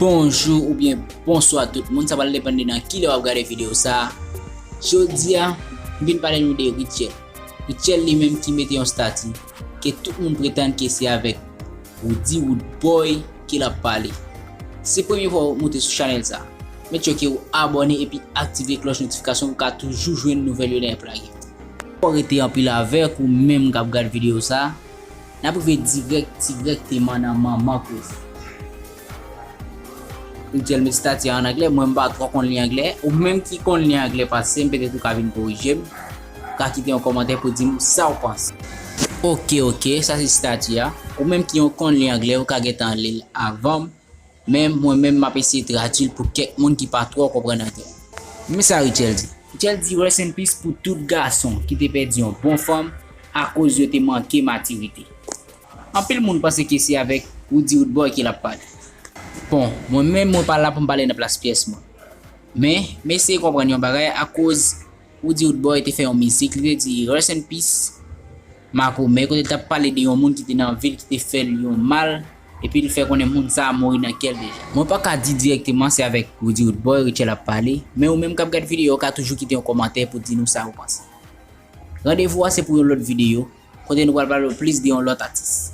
Bonjou ou byen bonswa tout moun, sa pral depan de nan ki lè wap gade videyo sa a. Jodi a, m vin pale nou de Rutshelle. Rutshelle li menm ki mete yon stati ke tout moun pretann ke se avèk Roody Roodboy ke lap pale. Se premye fwa ou moute sou chanèl sa a, make sure ke ou abòne epi aktive klòch notifikasyon pou ka toujou jwenn nouvèl yo lè yap lage. Fò rete anpil avèk ou menm kap gad video sa, nap rive dirèk dirèkteman nan manman koze. Li djèl met stati a an anglè, mwen mpa twò konn li anglè, ou menm ki konn li anglè pasem petèt ou ka vin korijem, ou ka kite yon kòmantè pou dim saw panse. Ok ok, sa se stati a, ou menm ki yon konn li anglè ou ka gentan lil avanm. Men mwen menm map eseye tradwil pou kèk moun ki pa twò konprann anglè. Men sa Rutshelle di. Rutshelle di rest in peace pou tout gason ki te pèdi yon bon fanm akoz yo te manke matirite. Anpil moun panse ke se avèk Roody Roodboy ke lap pale. Bon, mwen menm mwen pa la pou m pale nan plas pyès moun. Men, m eseye konprann yon bagay akoz. Roody Roodboy te fè yon mizik li te di Rest in peace Makomè kote li t ap pale de yon moun ki te nan vi l ki te fè l yon mal epi l fè konnen moun sa a mouri nan kè l deja. Mwen pa ka di dirèkteman se avèk Roody Roodboy Rutshelle ap pale, men ou menm k ap gad videyo a ka toujou kite yon kòmantè pou di nou sa ou panse. Randevou a se pou yon lòt videyo kote nou pral pale plis de yon lòt atis.